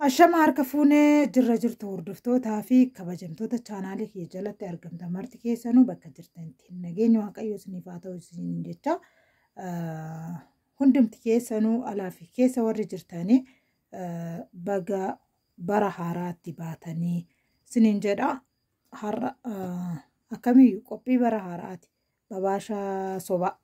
Ashama harka fuunee jirra jirtu hordoftootaa fi kabajamtoota chaanaalii kiyya jalatti argamtan marti keessanuu bakka jirtanitti nageenya waaqayyoo isiniif haa ta'u isiniin jecha ah, hundumti keessanuu alaa fi keessa warri jirtanii ah, baga bara haaraatti baatanii isiniin jedha har'a ah, akkamiyyuu qophii bara haaraati babaashaa sobaa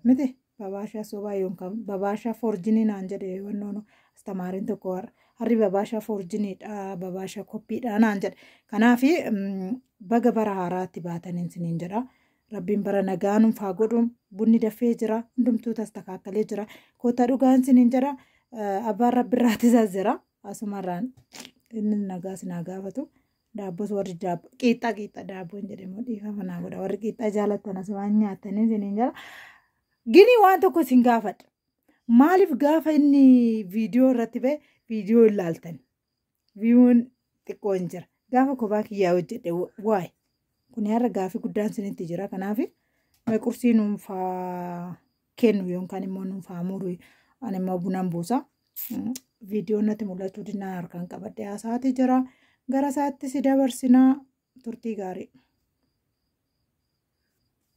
miti babaashaa sobaa yookaan babaashaa foorjinii naan jedhe wannoon astamaariin tokko har'a harri babaashaa foorjiniidha babaashaa koppiidha naan jedhe kanaaf baga bara haaraatti baataniin siniin jedha rabbiin bara nagaa nuuf haa godhu bunni dafee jira hundumtuu tastakaakkalee jira koottaa dhugaan siniin jedha abbaan rabbi irraatisaa jira asumarraan inni nagaa sinaa gaafatu Daabbos warri daabbo qiixxaa qiixxaa daabboo hin jedhamu dhiifama naa godha warri qiixxaa jaalatan asumaan nyaatanii isiniin jala. Gini waan tokko isin gaafadha. Maaliif gaafa inni viidiyoo irratti ba'e viidiyoo hin laaltan? Viiwuun xiqqoo hin jira. Gaafa kophaa kiyyaa hojjedhe waay. Kun har'a gaaffii guddaan isinitti jira kanaaf mee qursii nuunfaa. kennu yookaan immoo nuuf haa muru ani immoo bunan buusa viidiyoon natti mul'achuu dinnaa harkaan qabadhee haasaati jira gara isaatti si dabarsinaa turtii gaarii.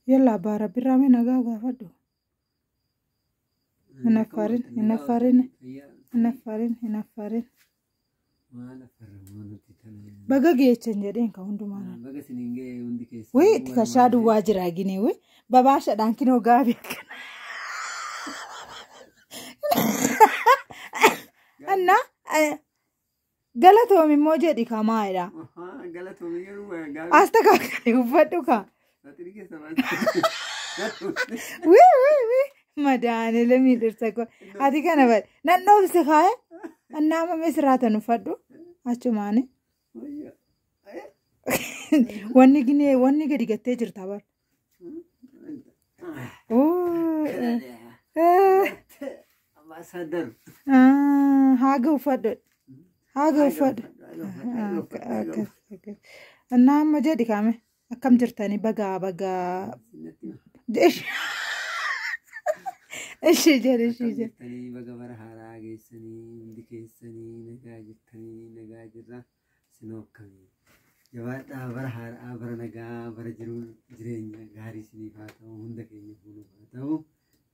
Yalla abbaa rabbirraa mee nagaa gaafadhu. Hin affaarin hin affaarin hin affaarin hin affaarin. Maala farramaa nuti kana. Baga geechan jedheen ka hundumaan. Baga siniin ga'ee hundi keessa. Wee itti kashaa duwwaa jira gine wee babaashadhaan kinoo gaabii akkana. Anna eh, galatoomi immoo jedhi kamaa'edha. Galatoomii yeroo gaabii. Asta kakari uffadhu ka. Saaxirii keessa maal? Wii wii wii. Madaane lamii dhirsa koo. Ati kana bari. Nan dhoofse kaaya. Annaama mee sirraa tan uffadhu. Achumaani. Wanni ginee wanni gadi gattee jirta bar. Oo. eh, Ambaasaadar. ah, Haaga uffadhu. Haaga uffadhu. Akkas akkas. Annaa amma jedhi kaame. Akkam jirtani bagaa bagaa. Ishee jedhe ishee jedhe. Jirtanii baga bara haaraa geessanii hundi keessanii nagaa jirtanii nagaa jirra sinoo akkamii jabaadhaa bara haaraa bara nagaa bara jiruun jireenya gaarii siniif haa ta'u hunda keenya fuuluuf haa ta'u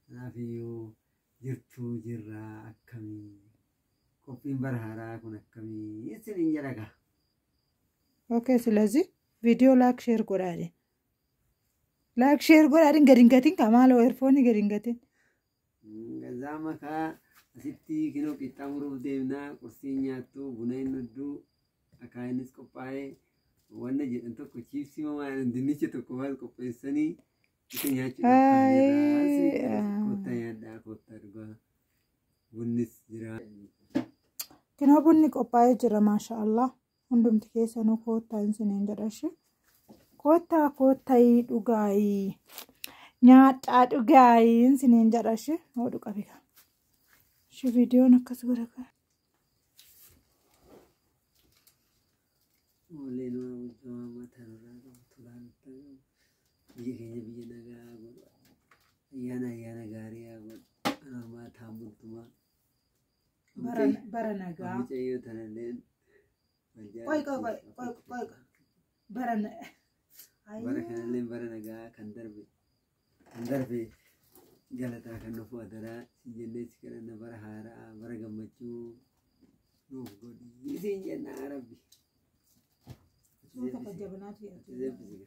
kanaaf iyyuu jirtuu jirra akkamii qophiin bara haaraa kun akkamii isiniin jedhaga Okay, silazii Video laak sheer godhaadhe. Laak sheer godhaadhin gadi hin gatin kaa maaloo eerfoonii gadi hin gatin. Gazaa makaa asitti kinoo qixxaa muruuf deemnaa qursii nyaattu buna hin dhudduu akaa innis qophaa'ee wanna jedhan tokko chiipsii mamaa jedhan dinnicha tokko waan qopheessanii isa nyaachuu Haay, ah. koottaa nyaadhaa koottaa dhugaa bunnis jira. Kinoo bunni qophaa'ee jira maasha Allah. hundumti keessanuu koottaa hin siniin jedhashi koottaa koottayii dhugaayii nyaadhaa dhugaayii hin siniin jedhashi hoo dhuqabika shi viidiyoon akkas godha kan Oolleen waa bulchaa waan mataa irraa qabu tulaan itti qabu. Biyya keenya biyya nagaa haa godhu. Ayyaana ayyaana gaarii haa godhu. Anaa maataan bultumaa. Bara bara nagaa. Mucayyoo tanalleen. Qoy qoy qoy qoy qoy qoy. Bara na. Ayi. Bara kanalleen bara nagaa kan darbe. Kan darbe galataa kan nuuf adaraa siin jennee si kadhanna bara haaraa bara gammachuu nuuf godhi siin jenna rabbi. Suuta fajjabanaatu Ati yaadu. eebbisiga.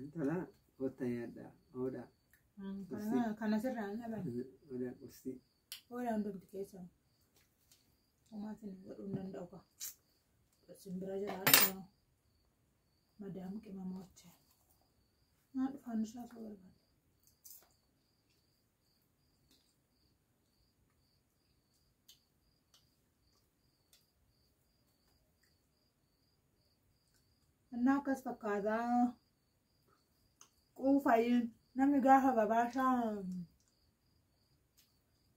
Intala kottaa nyaadhaa. Oodhaa. Kana sirraa hin dhaban. Oodhaa qustii. Oodhaa hundumti keessan. Homaatiin hin godhuu hin danda'u kaa. Isin bira jiraadhu. Madaam qimamoocha. Naa dhufaan isaa soo barbaada. Innaa akkas fakkaata. Quufayi namni gaafa babaashaa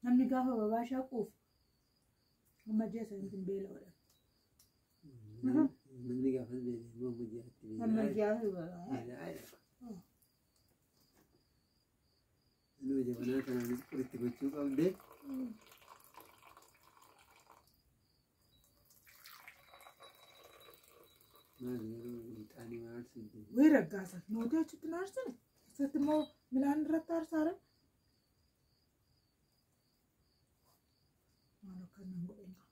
namni gaafa babaashaa quufu amma ji'a saniitiin beela godha. Namni gaafa beela'e immoo amma ji'aatti Amma beela'aa ji'a beela. beela'aa jira. Inuu jabanaa kanaanis qoritti gochuu qabdee. Maal yeroo hixaanii maal siddee? Wee raggaasa nuuti achitti na arsine isatti immoo midhaan irratti arsaare. Maal akka inni hin godhin qaba.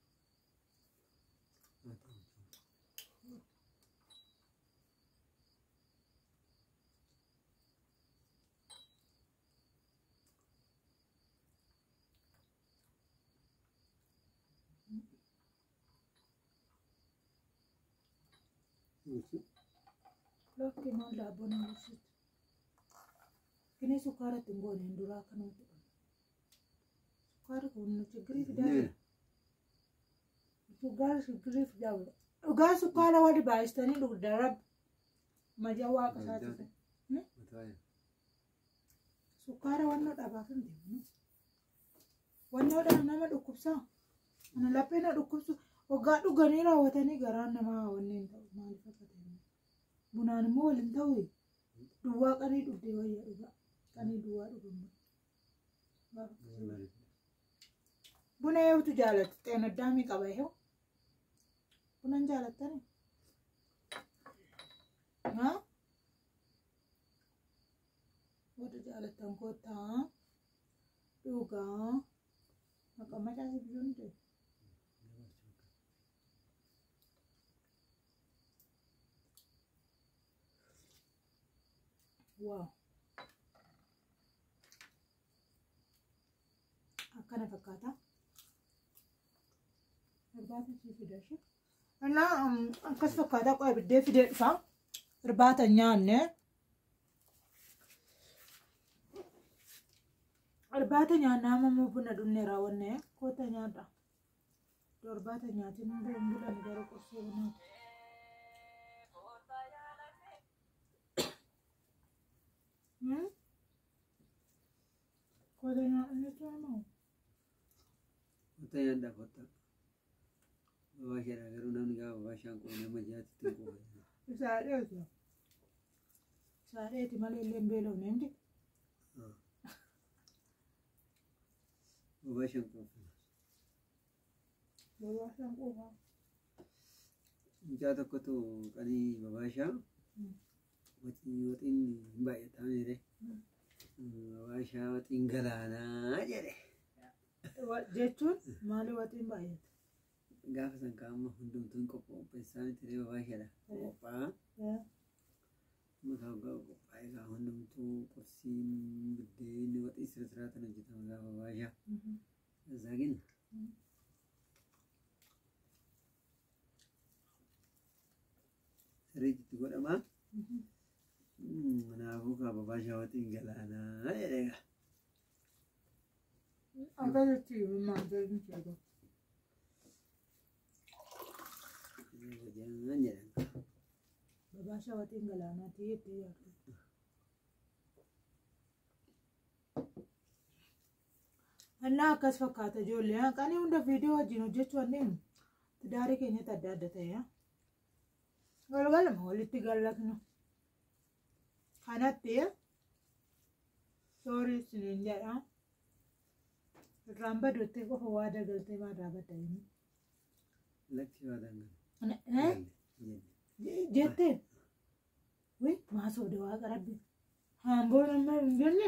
Lafti maal daabboo nama ibsitu. Kini sukkaara itti hin goone hin duraa akka nuti godhu. Sukkaara kun nu chiggirii fidaa jira. Sukkaara chiggirii fidaa jira. Dhugaa sukkaara wali baay'istanii dhugda rabbi. Maja waaqa isaa Maja. jiru. Hmm? Mataaya. Sukkaara wannoo dhabaaf hin deemnu. Wannoo dhaan nama dhukkubsaa. Ana laphee na dhukkubsu. Waggaa dhuganii raawwatanii garaan namaa wanni hin ta'u. Maaliif akka ta'e. Bunaan immoo wal hin ta'u. Duwwaa qanii dhugdee wayya dhugaa. Qanii duwwaa dhugamu. Gaafa akkasii. Buna eewtu jaalatti xeenaddaamii qaba eewu. Bunan jaalattani? Haa? Warri jaalattan koottaa dhugaa maqaa macaa si biyyoo ni ta'e. Waaw! Akkana fakkaata. Irbaata ishee fida ishee. Innaa um, akkas fakkaataa qo'ee biddee fidee dhufa. Irbaata hin nyaanne. Irbaata nyaannaa ammoo buna dhunne raawwanne koota nyaadha. Irbaata nyaatiin hin bulan bulan garuu qursee bunaa. Hmm? Koota nyaadha jechuun moo? Kottaa nyaadhaa kottaa. Bobaa isheedhaa garuu namni gaafa bobaa ishaan quba nama jaatti ittiin quba. Isaa dheetu. Isaa dheeti malee illee hin beelofne hundi. Bobaa ishaan quba. Bobaa isaan quba. Mucaa tokkotu qanii bobaa ishaa Waxiin waxiin hin baay'ataa meere. Waashaa waxiin galaanaa jedhe. Wa- Jechuun maali waxiin baay'ate? Gaafa san kaa amma hundumtuu hin qopheessaa miti ree waashaadha. Qophaa'aa. Eh, Makaa hoggaa qophaa'ee kaa hundumtuu qursiin biddeen waxiin sira siraa tan hojjetama gaafa waashaa. mhm. Isaa kenna. sirriitti itti godhamaa. Kanaafuu kaa babaa shaawatiin galaanaa jedhee gaa. Akkasitti maal jedhu jedhu. Hojjannaan jedhan. Babaa shaawatiin galaanaa ta'ee itti yaadu. Annaa akkas fakkaata ijoollee. Qanii hunda viidiyoo wajjin hojjechuu wanneen daarii keenyatti adda adda ta'e. Walgalama walitti gallatnu. Kanatti soorii isiniin jedha. Irraan baduutti qofa waa dagaltee maa irraa badda inni. Lakki waa dangan. Jette. Wii maa soode waaqa rabbi. Haamboo nama hin jenne.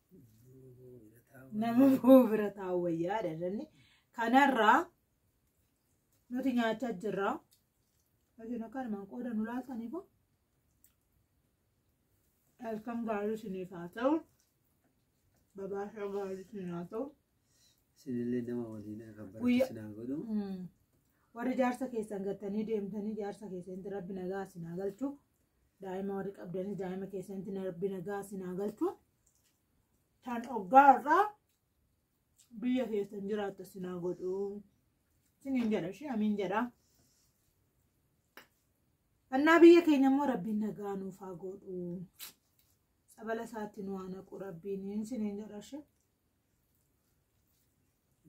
nama boo bira taa'u wayyaa jedhanni kanarraa nuti nyaachaa jirra yookiin akka armaan qooda nu laataniif halkan gaarii isiniif haa ta'u babaashaa gaarii isin haa ta'u Sinillee nama waliin akka Guyyaa- baratu sinaa godhu. Mm. warri jaarsa keessan gattanii deemtanii jaarsa keessanitti rabbi nagaa isin haa galchu daa'ima warri qabdanis daa'ima keessanitti na rabbi nagaa isin haa galchu tan oggaa irraa biyya keessan jiraattu isin haa godhu isiniin jedha ishee amiin jedha annaa biyya keenya immoo rabbiin nagaa nuuf haa godhu sabala isaatti nu haa naqu rabbiin isiniin jedha ishee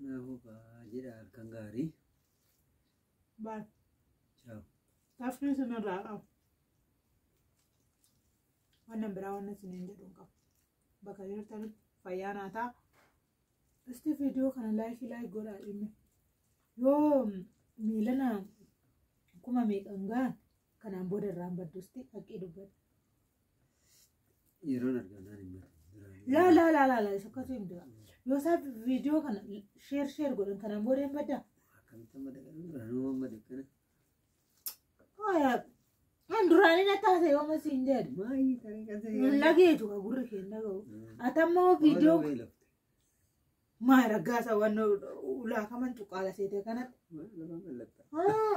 Naafuu kaa jedha halkan gaarii. Bye. Ciao. Taffii isin irraa qabu. Wannan biraa wannan isiniin jedhu hin qabu. Bakka jirtanitti fayyaa naa ta'a. Isti viidiyoo kana laayikii laayik godhaa dhimmi. Yoo miilana kuma meeqan gahan Kanaan booda irraan badduusti haqqii dubbata. Yeroon argamnaan hin beeku. Laa laa laa laa laa sokkatu hin dura. Yoo isaa viidiyoo kana sheer sheer godhan kanaan booda hin baddaa. Akkamitti amma dhaqan duraan hoo amma dhaqana. Kan duraanii na taasise yoo masi hin jedhu. Maayii taree kan ta'e. Hin lageetu ka gurri kee hin dhaga'u. Ati ammoo viidiyoo maa raggaasa waan ulaakaman cuqqaala seete kanatti. Haa